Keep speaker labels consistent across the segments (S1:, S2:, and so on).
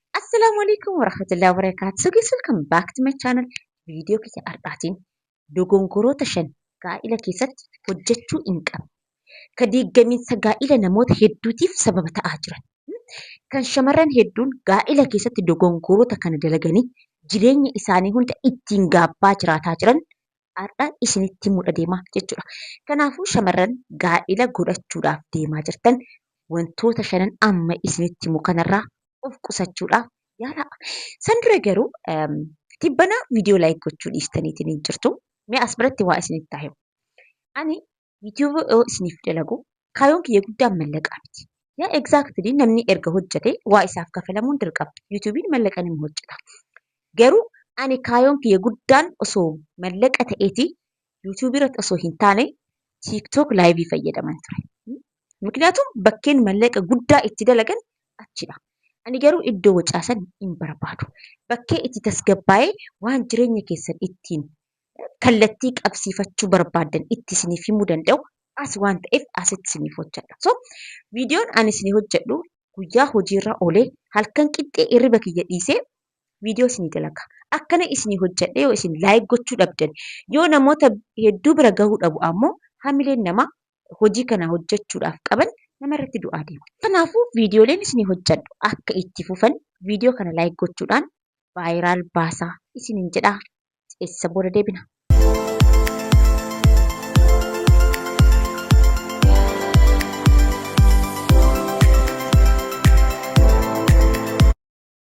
S1: Assalaamu alaikum warahmatullahi wabarakatuh. So guys welcome back to my channel. Viidiyoo kiyya har'aatiin dogongoroota shan gaa'ila keessatti hojjechuu hin qabne. Ka diiggamiinsa gaa'ila namoota hedduutiif sababa ta'aa jiran. Kan shamarran hedduun gaa'ila keessatti dogongoroota kana dalaganii jireenya isaanii hunda ittiin gaabbaa jiraataa jiran har'a isinitti himudha deema jechuudha. Kanaafuu shamarran gaa'ila godhachuudhaaf deemaa jirtan wantoota shanan amma isinitti himu kanarraa of qusachuudhaaf yaalaa. San dura garuu tibbana viidiyoo laayik gochuu dhiistaniitiin hin jirtu. Mee as biratti waa isinitti haa himu. Ani Yuutuuba yoo isiniif dalagu kaayoon kiyya guddaan mallaqaa miti. Yaa exactly namni erga hojjate waa isaaf kafalamuun dirqama. Yuutuubiin mallaqa nama hojjeta. Garuu ani kaayoon kiyya guddaan osoo mallaqa ta'eeti yuutuubii irratti osoo hin taane tiiktook laayivii fayyadaman ture. Miknyaatuun bakkeen mallaqa guddaa itti dalagan achidha. Ani garuu iddoo wacaasan hin barbaadu. Bakkee itti tasgabbaa'ee waan jireenya keessan ittiin kallattii qabsiifachuu barbaaddan itti isiniif himuu danda'u as waan ta'eef asitti isiniif hojjedha. So viidiyoon ani isinii hojjedhu guyyaa hojiirra olee halkan qixxee hirriba kiyya dhiisee viidiyoo isinii dalaga. Akkana isinii hojjedhe yoo isin laayik gochuu dhabdan yoo namoota hedduu bira gahuu dhabu ammoo hamileen namaa hojii kana hojjechuudhaaf qaban namarratti du'aa deema. Kanaafuu viidiyooleen isinii hojjedhu akka itti fufan viidiyoo kana laayik gochuudhaan vaayiraal baasaa isiniin jedha. ceesisa booda deebina.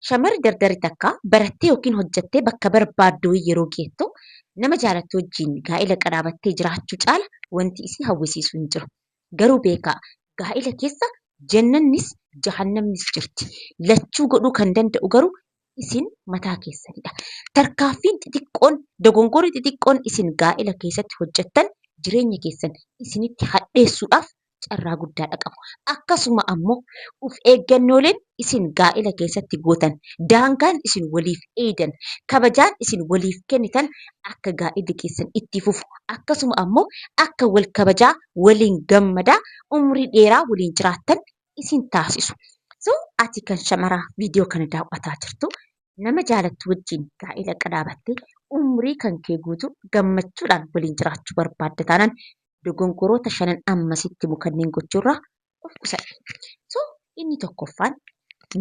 S1: Shamarri dardarri takka barattee yookiin hojjattee bakka barbaaddu yeroo geettu nama jaalattu wajjin gaa'ila qadhaabattee jiraachuu caala wanti isii hawwisiisu hin jiru. Garuu beekaa gaa'ila keessa jannannis jahannamnis jirti. Lachuu godhuu kan danda'u garuu isin mataa keessanidha. Tarkaanfiin xixiqqoon, dogongorri xixiqqoon isin gaa'ela keessatti hojjettan jireenya keessan isinitti hadheessuudhaaf carraa guddaadha qabu. Akkasuma ammoo of eeggannooleen isin gaa'ela keessatti gootan, daangaan isin waliif eeydan, kabajaan isin waliif kennitan akka gaa'illi keessan itti fufu akkasuma ammoo akka wal kabajaa, waliin gammadaa, umrii dheeraa waliin jiraattan isin taasisu. So ati kan shamaraa viidiyoo kana daaw'ataa jirtu nama jaalattu wajjin gaa'ela qadaabattee umrii kan kee guutuu gammachuudhaan waliin jiraachuu barbaadda taanaan dogongoroota shanan amma sitti himu kanneen gochuurraa of qusadhu. So inni tokkoffaan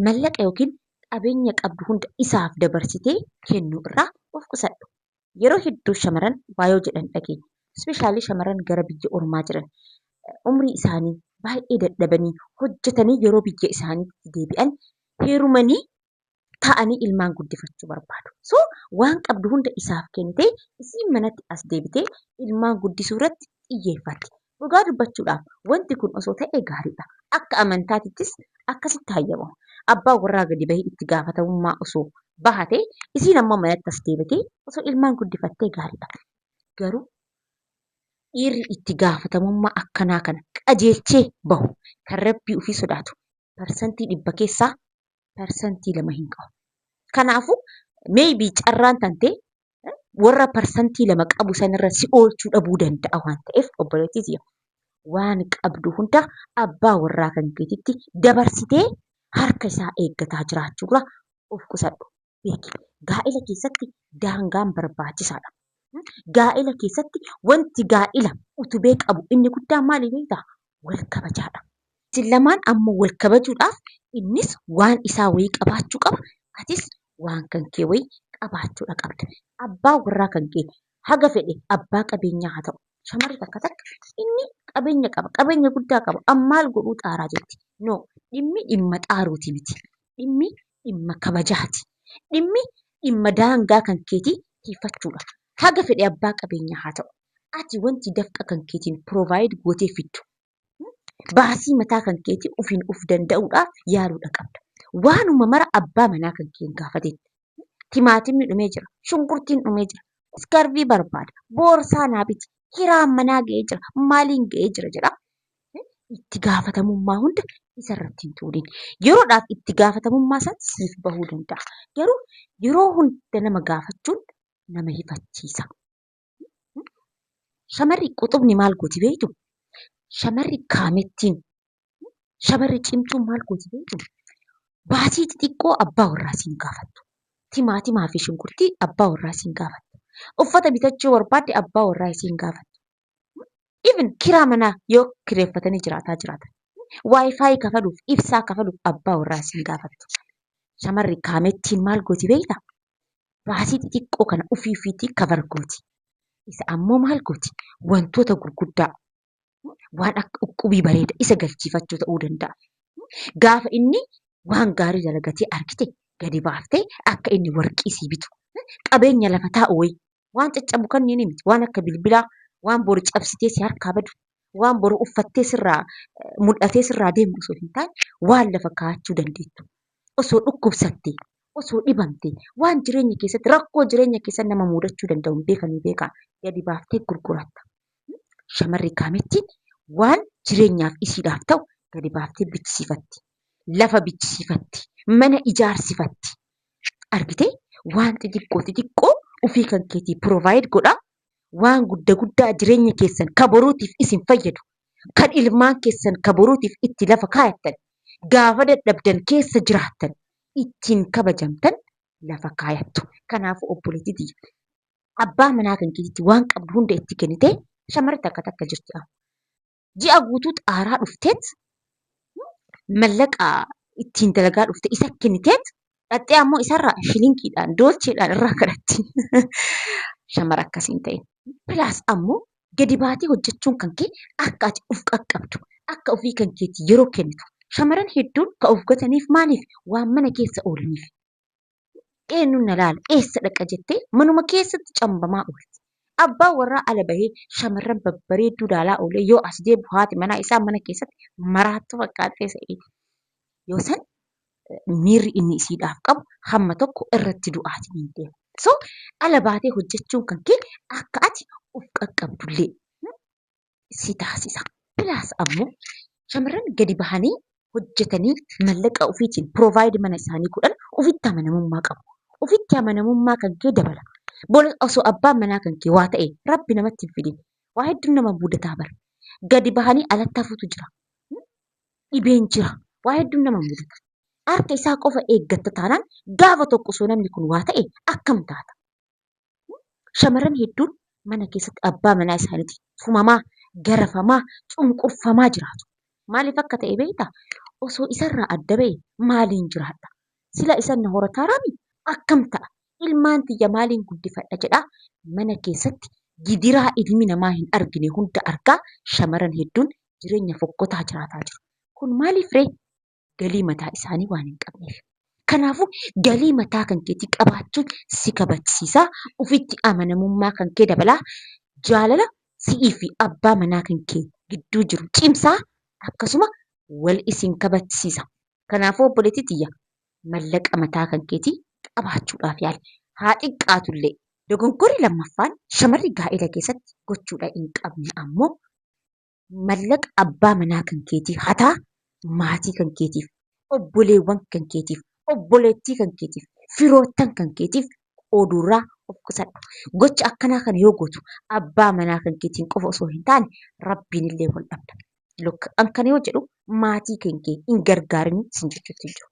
S1: mallaqa yookiin qabeenya qabdu hunda isaaf dabarsitee kennuu irraa of qusadhu. yeroo hedduu shamaran waa yoo jedhan dhageenya. Specially shamaran gara biyya ormaa jiran umrii isaanii baay'ee dadhabanii hojjetanii yeroo biyya isaaniitti deebi'an heerumanii taa'anii ilmaan guddifachuu barbaadu. So waan qabdu hunda isaaf kennitee isiin manatti as deebitee ilmaan guddisuu irratti xiyyeeffatti. Dhugaa dubbachuudhaaf wanti kun osoo ta'ee gaariidha. Akka amantaatittis akkasitti hayyamama. Abbaan warraa gadi bahee itti gaafatamummaa osoo bahatee isiin ammoo manatti as deebitee osoo ilmaan guddifattee gaariidha. Garuu dhiirri itti gaafatamummaa akkanaa kana qajeelchee bahu kan rabbii ofii sodaatu parsantii dhibba keessaa parsantii lama hin qabu. Kanaafuu maybe carraan tantee warra parsantii lama qabu sanirra si oolchuu dhabuu danda'a waan ta'eef obboleettii tiyya waan qabdu hunda abbaa warraa kan keetitti dabarsitee harka isaa eeggataa jiraachuurra of qusadhu beeki. Gaa'ila keessatti daangaan barbaachisaadha. Gaa'ila keessatti wanti gaa'ila utubee qabu inni guddaan maali beektaa? Wal kabajaadha. Isin lamaan ammoo wal kabajuudhaaf innis waan isaa wayii qabaachuu qaba, atis waan kan kee wayii qabaachuudha qabda. Abbaa warraa kan kee haga fedhe abbaa qabeenyaa haa ta'u, shamarri takka takka inni qabeenya qaba, qabeenya guddaa qaba an maal godhuu xaaraa jetti. No! Dhimmi dhimma xaaruuti miti. Dhimmi dhimma kabajaati. Dhimmi dhimma daangaa kan keetii tiifachuudha. Haga fedhe abbaa qabeenyaa haa ta'u, ati wanti dafqa kan keetiin provide gootee fiddu baasii mataa kan keetii ofiin of danda'uudhaaf yaaluudha qabda. Waanuma mara abbaa manaa kan kee hin gaafatin. Timaatimni dhumee jira, shunkurtiin dhumee jira, iskarvii barbaada, boorsaa naa biti, hiraan manaa ga'ee jira, maaliin ga'ee jira jedha. Itti gaafatamummaa hunda isarratti hin tuulin. Yeroodhaaf itti gaafatamummaa san siif bahuu danda'a. Garuu yeroo hunda nama gaafachuun nama hifachiisa. Shamarri quxubni maal gooti beektuu? Shamarri kaamettiin, shamarri cimtuun maal gooti beektuu? Baasii xixiqqoo abbaa warraa ishee hin gaafattu. Timaatimaa fi shunkurtii abbaa warraa ishee hin gaafattu. Uffata bitachuu yoo barbaadde abbaa warraa ishee hin gaafattu. Even kiraa manaa yoo kireeffatanii jiraataa jiraatan, waayifaayi kafaluuf, ibsaa kafaluuf abbaa warraa ishee hin gaafattu. Shamarri kaamettiin maal gooti beektaa? baasii xixiqqoo kana ofii ofiitii kabar gooti. Isa ammoo maal gooti? Wantoota gurguddaa waan akka uqqubii bareeda isa galchiifachuu ta'uu danda'a. Gaafa inni waan gaarii dalagatee argite gadi baaftee akka inni warqii sii bitu qabeenya lafa taa'u wayii Waan caccabu kanniini miti. Waan akka bilbilaa, waan boru cabsitee si harkaa badu, waan boru uffattee sirraa eh, mul'atee sirraa deemu osoo hin taane waan lafa kaa'achuu dandeettu. Osoo dhukkubsattee, osoo dhibamtee, waan jireenya keessatti rakkoo jireenya keessatti nama muudachuu danda'u hin beekanii beekaa gadi baaftee gurguratta. Shamarri kaamettiin waan jireenyaaf isiidhaaf ta'u gadi baaftee bichisiifatti. Lafa bichisiifatti. Mana ijaarsifatti. Argitee waan xixiqqoo xixiqqoo ofii kan keetii provide godhaa waan gudda guddaa jireenya keessan ka boruutiif isin fayyadu kan ilmaan keessan ka boruutiif itti lafa kaayattan gaafa dadhabdan keessa jiraattan ittiin kabajamtan lafa kaayattu. Kanaafuu obboleettii tiyya abbaa manaa kan keetitti waan qabdu hunda itti kennitee shamarri takka takka jirti amma. ji'a guutuu xaaraa dhufteet mallaqa ittiin dalagaa dhufte isa kenniteet dhaxxee ammoo isarraa shilingiidhaan doolcheedhaan irraa kadhatti. Shamara akkas hin ta'in. Pilaas ammoo gadi baatee hojjechuun kan kee akka ati of qaqqabdu akka ofii kan keetii yeroo kennitu shamaran hedduun ka of gataniif maaliif waan mana keessa oolaniif. eenyuun na laala eessa dhaqa jettee manuma keessatti cambamaa oolti. Abbaa warraa ala bahee shamarran babbareedduu laalaa oolee yoo as deebi'u haati manaa isaa mana keessatti maraattuu fakkaattee se'eeti. Yoo san miirri inni isiidhaaf qabu hamma tokko irratti du'aati hin deema. So ala baatee hojjechuun kan kee akka ati of qaqqabdullee si taasisa. Pilaas ammoo shamarran gadi bahanii hojjetanii mallaqa ofiitiin provide mana isaanii godhan ofitti amanamummaa qabu. Ofitti amanamummaa kan kee dabala. Bor osoo abbaan manaa kan kee waa ta'e rabbi namatti hin fidin. Waa hedduun nama mudataa bara. Gadi bahanii alatti hafuutu jira. Dhibeen jira. Waa hedduun nama mudata. Harka isaa qofa eeggatta taanaan gaafa tokko osoo namni kun waa ta'e akkam taata? Shamarran hedduun mana keessatti abbaa manaa isaaniitiin tumamaa, garafamaa, cunqurfamaa jiraatu. Maaliif akka ta'e beektaa? Osoo isarraa adda ba'ee maaliin jiraadha? Sila isan na horataaraami? Akkam ta'a? Ilmaan tiyya maaliin guddifadha jedhaa mana keessatti gidiraa ilmi namaa hin argine hunda argaa shamarran hedduun jireenya fokkotaa jiraataa jiru. Kun maaliif ree? galii mataa isaanii waan hin qabneef. Kanaafuu galii mataa kan keetii qabaachuun si kabajsiisa, ofitti amanamummaa kan kee dabala, jaalala si'ii fi abbaa manaa kan kee gidduu jiru cimsa, akkasuma wal isin kabajsiisa. Kanaafuu obboleettii tiyya mallaqa mataa kan keetii qabaachuudhaaf yaali. Haa xiqqaatu illee. Dogongorri lammaffaan shamarri gaa'ela keessatti gochuudha hin qabne ammoo Mallaqa abbaa manaa kan keetii hataa maatii kan keetiif, obboleewwan kan keetiif, obboleettii kan keetiif, firoottan kan keetiif qooduurraa of qusadhu. Gocha akkanaa kana yoo gootu abbaa manaa kan keetiin qofa osoo hin taane rabbiinillee wal dhabda. Look, an kana yoo jedhu maatii kan kee hin gargaarin sin jechuutti hin jiru.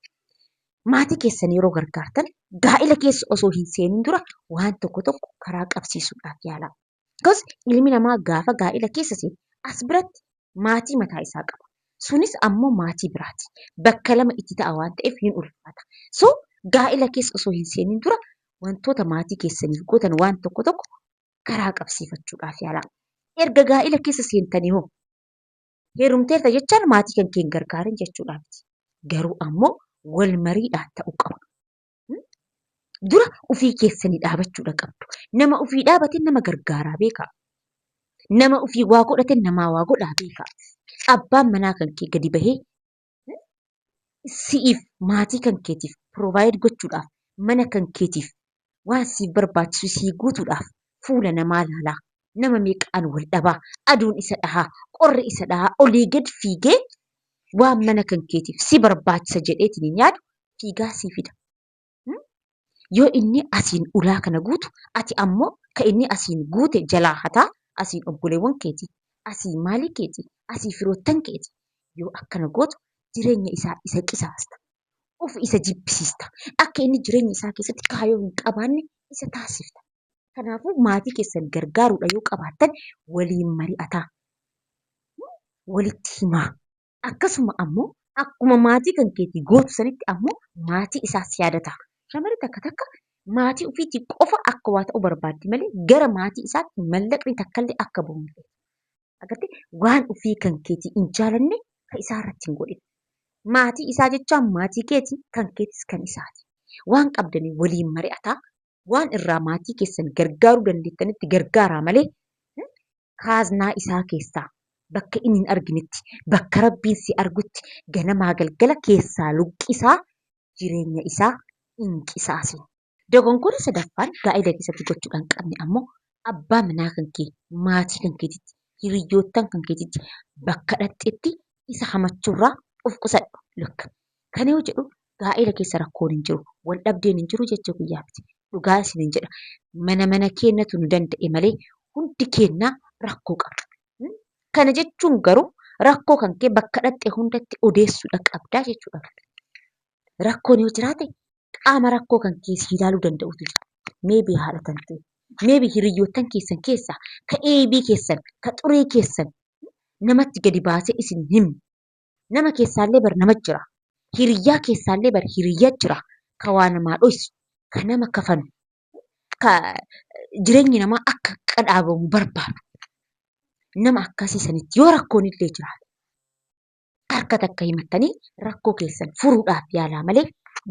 S1: Maatii keessan yeroo gargaartan gaa'ila keessa osoo hin seenin dura waan tokko tokko karaa qabsiisuudhaaf yaalaa. Akkasumas ilmi namaa gaafa gaa'ila keessa seenu as biratti maatii mataa isaa qaba. Sunis ammoo maatii biraati. Bakka lama itti ta'a waan ta'eef ni ulfaata. So gaa'ila keessa osoo hin seeniin dura wantoota maatii keessaniif gootan waan tokko tokko karaa qabsiifachuudhaaf yaalaa. Erga gaa'ila keessa seentanii hoo heerumteerta jechaan maatii kan kee hin gargaarin jechuudhaa miti. Garuu ammoo wal mariidhaan ta'uu qaba. dura ofii keessanii dhaabachuudha qabdu. Nama ofii dhaabate nama gargaaraa beekaa. Nama ofii waa godhate namaa waa godhaa beekaa. Abbaan manaa kan kee gadi bahee si'iif maatii kan keetiif provide gochuudhaaf mana kan keetiif waan siif barbaachisu sii guutuudhaaf fuula namaa laalaa nama meeqaan wal dhabaa, aduun isa dhahaa, qorri isa dhahaa olii gad fiigee waan mana kan keetiif si barbaachisa jedheetiin hin yaadu fiigaa sii fida. Hmm? Yoo inni asiin ulaa kana guutu ati ammoo ka inni asiin guute jalaa hataa asiin obboleewwan keeti, asii maalii keeti, asii firoottan keeti. Yoo akkana gootu jireenya isaa isa qisaasta. Of isa jibbisiista. Akka inni jireenya isaa keessatti kaayoo hin qabaanne isa taasifta. Kanaafuu maatii keessan gargaaruudha yoo qabaattan waliin mari'ataa. Walitti himaa. Akkasuma ammoo akkuma maatii kan keetii gootu sanitti ammoo maatii isaas yaadataa. Shamarri takka takka maatii ufiitii qofa akka waa ta'u barbaaddi malee gara maatii isaatti mallaqni takkallee akka bahu hin feetu. Agartee waan ufii kan keetii hin jaalanne ka isaa irratti hin godhin. Maatii isaa jechaan maatii keeti kan keetis kan isaati. Waan qabdanii waliin mari'ataa waan irraa maatii keessan gargaaruu dandeettanitti gargaaraa malee kaaznaa isaa keessaa bakka inni hin arginetti bakka rabbiin si argutti ganamaa galgala keessaa luqqisaa jireenya isaa hin qisaasin. Dogongoora sadaffaan gaa'ila keessatti gochuudhaan qabne ammoo abbaa manaa kan kee maatii kan keetitti hiriyyoottan kan keetitti bakka dhaqxetti isa hamachuurraa of qusadhu. Look. Kan yoo jedhu gaa'ela keessa rakkoon hin jiru, wal dhabdeen hin jiru jechuu kiyyaa miti. Dhugaa isiniin jedha. Mana mana keennatu nu danda'e malee hundi keenna rakkoo qabna. Hmm? Kana jechuun garuu rakkoo kan kee bakka dhaqxe hundatti odeessuudha qabdaa jechuudha. Rakkoon yoo jiraate qaama rakkoo kan kee si ilaaluu danda'utu jira. Meebii haadha kan ta'e, meebii hiriyyoottan keessan keessaa, ka eebii keessan, ka xurii keessan namatti gadi baasee isin hin himu. Nama keessaallee bar nama jira. Hiriyyaa keessaallee bar hiriyya jira. Ka waa namaa dhoysu, ka nama kafanu, ka jireenyi namaa akka qadhaabamu barbaadu. Nama akkasii sanitti yoo rakkoonillee jiraate harka takka himattanii rakkoo keessan furuudhaaf yaalaa malee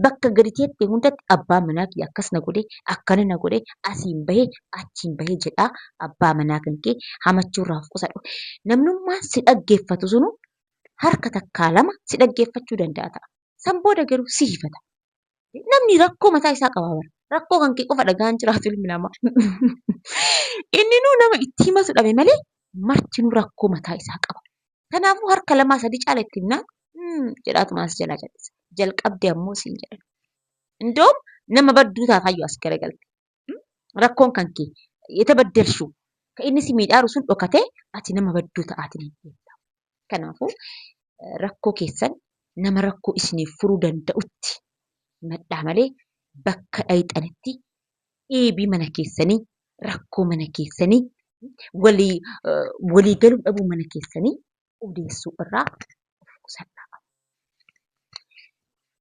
S1: bakka gadi teettee hundatti abbaa manaa kiyya akkas na godhe akkana na godhe asiin bahe achiin bahe jedhaa abbaa manaa kan kee hamachuurraa of qusadhu. Namnummaan si dhaggeeffatu sunuu harka takkaa lama si dhaggeeffachuu danda'a ta'a. San booda garuu si hifata. Namni rakkoo mataa isaa qaba bara. Rakkoo kan kee qofa dhagahaan jiraatu ilmi namaa. Inninuu nama itti himatu dhabe malee martinuu rakkoo mataa isaa qaba. Kanaafuu harka lamaa sadii caala itti himnaan "Hmm" jedhaatumaan si jalaa cal'isa. Jalqabde ammoo siin jedhan. Indoom nama badduu taataayyu as garagalte. rakkoon kan kee ita baddelshuu ka inni si miidhaaru sun dhokatee ati nama badduu ta'aatiin hin deemta. Kanaafuu rakkoo keessan nama rakkoo isiniif furuu danda'utti himadhaa malee bakka dhayxanitti dhiibii mana keessanii rakkoo mana keessanii walii walii galuu dhabuu mana keessanii odeessuu irraa of qusadhaa.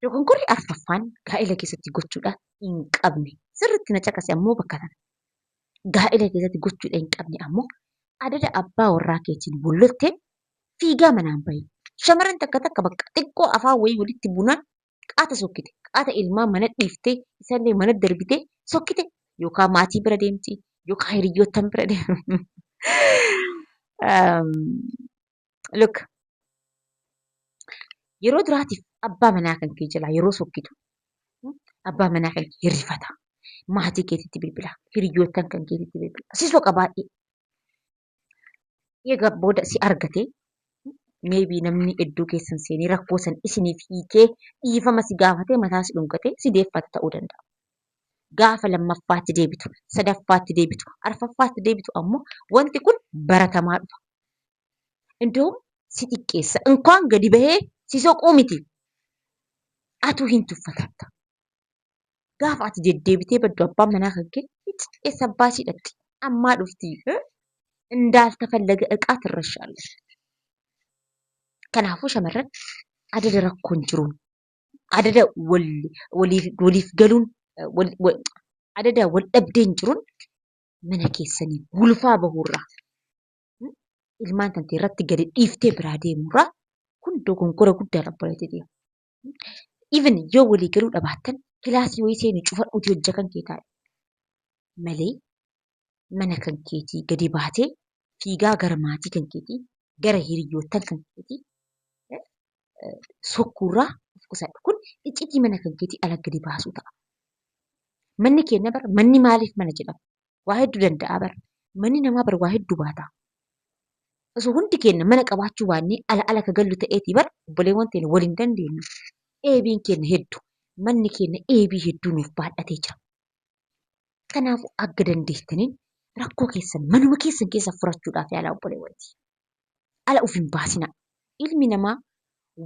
S1: Dogongorri arfaffaan gaa'ila keessatti gochuudha hin qabne sirriitti na caqasi ammoo bakka kana. Gaa'ila keessatti gochuudha hin qabne ammoo adada abbaa warraa keetiin wal lolteen fiigaa manaan bahi. Shamarran takka takka bakka xiqqoo afaan wayii walitti bunaan qaata sokkite, qaata ilmaan mana dhiiftee isallee mana darbitee sokkite yookaan maatii bira deemti yookaan hiriyyoottan bira deemti. um, look, yeroo duraatiif abbaa manaa kan kee jalaa yeroo sokkitu abbaa manaa kan kee hirrifata. Maatii keetitti bilbila, hiriyyoottan kan keetitti bilbila. Si soqa baay'ee. Egaa booda si argate maybe namni iddoo keessan seenee rakkoo san isiniif hiikee dhiifama si gaafatee mataa si dhungatee si deeffate ta'uu danda'a. Gaafa lammaffaatti deebitu, sadaffaatti deebitu, arfaffaatti deebitu ammoo wanti kun baratamaa dhufa. Indoom si xiqqeessa. Inkaan gadi bahee si soquu miti. Atuu hin tuffatatta. Gaafa ati deddeebitee baddu abbaan manaa kan kee eessa abbaa ishii dhaqxi ammaa dhufti indaalta fallaga iqaa tirrashaalle. Kanaafuu shamarran adada rakkoon jiruun adada waliif galuun adada wal dhabdeen jiruun mana keessanii gulufaa bahuurraa ilmaan tantee irratti gadi dhiiftee biraa deemuurraa kun dogonkora guddaadha obboleetti tiyya. even yoo walii galuu dhabaattan kilaasii wayii seeni cufadhuuti hojja kan kee taa'e malee mana kan keetii gadi baatee fiigaa gara maatii kan keetii gara hiriyyoottan kan keetii eh, eh, sokkuurraa of qusadhu kun iccitii mana kan keetii ala gadi baasuu ta'a manni keenya bara manni maaliif mana jedhama waa hedduu danda'a bar. Manni namaa bar waa hedduu baata. Osoo hundi keenya mana qabaachuu baannee ala ala ka gallu ta'eetii bar obboleewwan teenya wal hin dandeenyu. Eebiin keenya heddu. Manni keenya eebii hedduu nuuf baadhatee jira. Kanaafuu akka dandeettaniin rakkoo keessan manuma keessan keessa furachuudhaaf yaalaa obboleewwan tiyya. Ala uf hin baasinaa. Ilmi namaa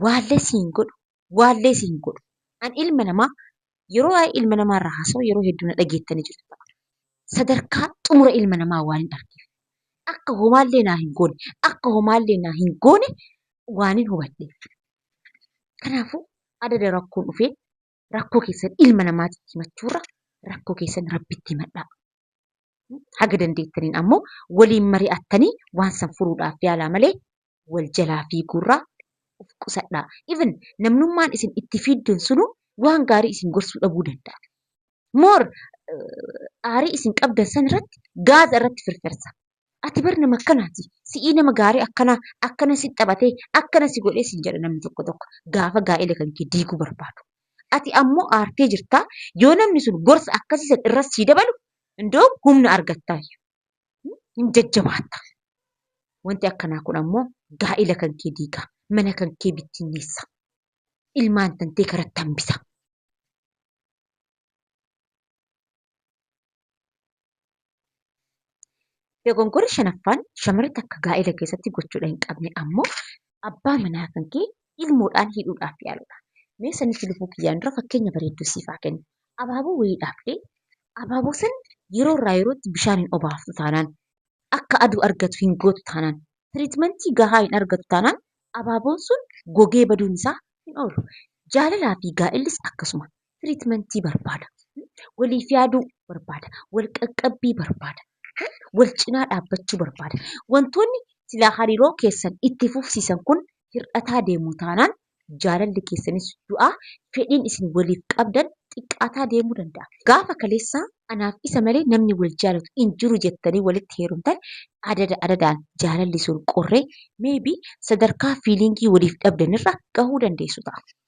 S1: waallee si hin godhu, waallee si hin godhu. An ilma namaa yeroo waa'ee ilma namaa irraa haasa'u yeroo hedduu na dhageettanii jirtu ta'a. Sadarkaa xumura ilma namaa waan hin argeef. Akka homaallee naa hin goone, akka homaallee naa hin goone waan hin hubadheef. Kanaafuu adada rakkoon dhufee rakkoo keessan ilma namaatitti himachuurra rakkoo keessan rabbitti himadhaa. haga dandeettaniin ammoo waliin mari'attanii waan san furuudhaaf yaalaa malee wal jalaa fiiguurraa of qusadhaa. Even namnummaan isin itti fiiddan sunuu waan gaarii isin gorsuu dhabuu danda'a. More aarii isin qabdan san irratti gaaza irratti firfirsa. Ati bar nama akkanaati. Si'ii nama gaarii akkanaa akkana si taphatee akkana si godhee siin jedha namni tokko tokko gaafa gaa'ela kan kee diiguu barbaadu. Ati ammoo aartee jirtaa yoo namni sun gorsa akkasii san irra sii dabalu indoo humna argattaayyu. Hin jajjabaatta. Wanti akkanaa kun ammoo gaa'ela kan kee diiga. Mana kan kee bittinneessa. Ilmaan tantee karatti hambisa. Dogongorri shanaffaan shamarri takka gaa'ela keessatti gochuudha hin qabne ammoo abbaa manaa kan kee ilmoodhaan hidhuudhaaf yaaluudha. Mee sanitti lubuu kiyyaan dura fakkeenya bareedduu siif haa kennu. Abaaboo wayii dhaabdee abaaboo san yeroo irraa yerootti bishaan hin obaaftu taanaan akka aduu argatu hin gootu taanaan tiriitmentii gahaa hin argatu taanaan abaaboon sun gogee baduun isaa hin oolu. Jaalalaa fi gaa'ellis akkasuma. tiriitmentii barbaada. Waliif yaaduu barbaada. Wal qaqqabbii barbaada. Wal cinaa dhaabbachuu barbaada. Wantoonni silaa hariiroo keessan itti fufsiisan kun hir'ataa deemu taanaan jaalalli keessanis du'aa fedhiin isin waliif qabdan xiqqaataa deemuu danda'a. Gaafa kaleessaa anaaf isa malee namni wal jaalatu hin jiru jettanii walitti heerumtan adada adadaan jaalalli sun qorree maybe sadarkaa fiiliingii waliif dhabdanirra gahuu dandeessu ta'a.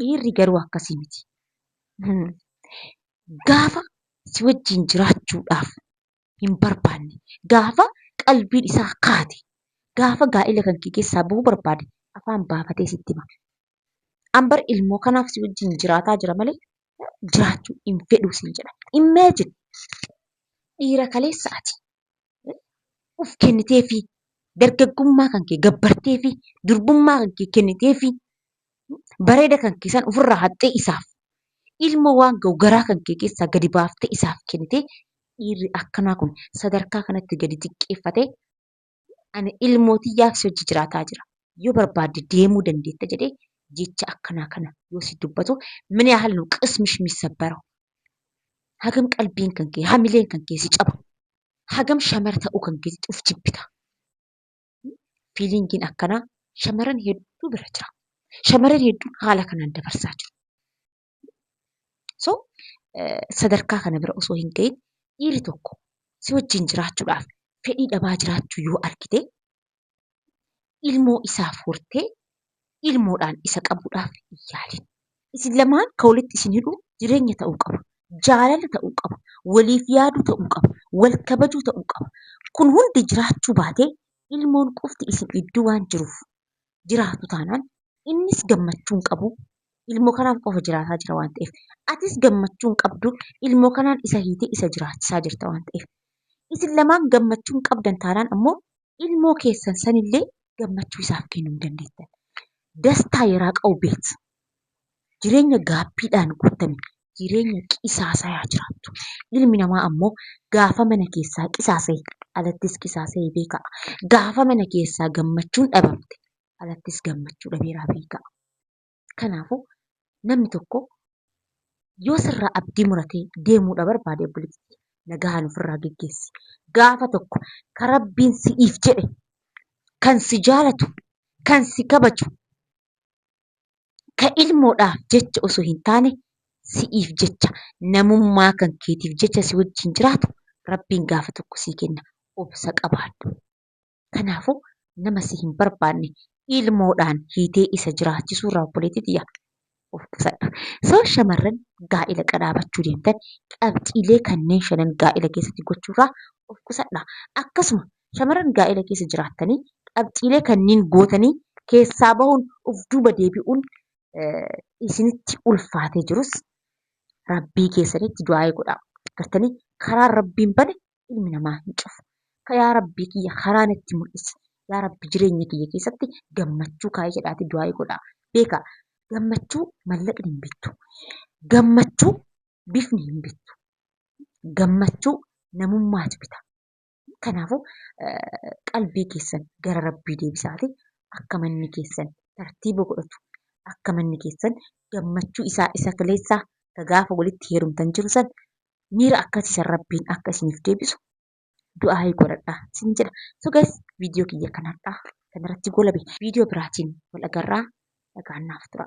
S1: Dhiirri garuu akkasii miti. Gaafa si wajjin jiraachuudhaaf hin barbaanne, gaafa qalbiin isaa kaate, gaafa gaa'ila kan kee keessaa bahuu barbaade afaan baafatee sitti hima. An bar ilmoo kanaaf si wajjin jiraataa jira malee jiraachuu hin fedhu siin jedha. Imagine! Dhiira kaleessa ati. of kenniteefii dargaggummaa kan kee gabbarteefii durbummaa kan kee kenniteefii bareeda kan kee san ofirraa haxxee isaaf ilma waan ga'u garaa kan kee keessaa gadi baaftee isaaf kennitee dhiirri akkanaa kun sadarkaa kanatti gadi xiqqeeffatee ani ilmoo tiyyaaf si hojii jiraataa jira yoo barbaadde deemuu dandeetta jedhee jecha akkanaa kana yoo si dubbatu min yaahal nu qismish misabbaraw hagam qalbiin kan kee hamileen kan kee si caba hagam shamara ta'uu kan keetii of jibbita. Fiilingiin akkanaa shamaran hedduu bira jira. Shamaran hedduun haala kanaan dabarsaa jiru. So sadarkaa kana bira osoo hin ga'iin dhiirri tokko si wajjin jiraachuudhaaf fedhii dhabaa jiraachuu yoo argite ilmoo isaaf hortee ilmoodhaan isa qabuudhaaf hin yaalin. Isin lamaan kan walitti isin hidhu jireenya ta'uu qaba. Jaalala ta'uu qaba. Waliif yaaduu ta'uu qaba. Wal kabajuu ta'uu qaba. Kun hundi jiraachuu baatee ilmoon qofti isin gidduu waan jiruuf jiraatu taanaan innis gammachuu hin qabu. Ilmoo kanaaf qofa jiraataa jira waan ta'eef. Atis gammachuu hin qabdu. Ilmoo kanaan isa hiitee isa jiraachisaa jirta waan ta'eef. Isin lamaan gammachuu hin qabdan taanaan ammoo ilmoo keessan sanillee gammachuu isaaf kennuu hin dandeettan. Dastaa yeraa qa'u beet. Jireenya gaabbiidhaan guuttame, jireenya qisaasayaa jiraattu. Ilmi namaa ammoo gaafa mana keessaa qisaasaye alattis qisaasayee beekaa. Gaafa mana keessaa gammachuun dhabamte alattis gammachuu dhabeeraa beekaa. Kanaafuu namni tokko yoo sirraa abdii muratee deemuudha barbaade obboleetti tiyya nagahaan ofirraa geggeessi. Gaafa tokko ka rabbiin si'iif jedhe kan si jaalatu kan si kabaju ka ilmoodhaaf jecha osoo hin taane si'iif jecha namummaa kan keetiif jecha si wajjin jiraatu rabbiin gaafa tokko sii kenna obsa qabaadhu. Kanaafuu nama si hin barbaanne ilmoodhaan hiitee isa jiraachisuu irraa obboleettii tiyya of qusadhu. So shamarran gaa'ila qadaabachuu deemtan qabxiilee kanneen shanan gaa'ila keessatti gochuu irraa of qusadha. Akkasuma shamarran gaa'ila keessa jiraattanii qabxiilee kanneen gootanii keessaa bahuun of duuba deebi'uun isinitti ulfaatee jirus rabbii keessanitti du'aa'ee godhaa. Gartanii karaan rabbiin bane ilmi namaa hin cufu. Ka yaa Rabbii kiyya karaa natti mul'isi. Yaa Rabbi jireenya kiyya keessatti gammachuu kaa'i jedhaati du'aayi godha. Beeka gammachuu mallaqni hin bittu. Gammachuu bifni hin bittu. Gammachuu namummaatu bita. Kanaafuu qalbii keessan gara Rabbii deebisaati akka manni keessan tartiiba godhatu akka manni keessan gammachuu isaa isa kaleessaa ka gaafa walitti heerumtan jiru san miira akkasii san rabbiin akka isiniif deebisu du'aa'ii godhadha isin jedha. So guys viidiyoo kiyya kan har'aa kanarratti goolabe viidiyoo biraatiin wal agarraa nagaan naaf tura.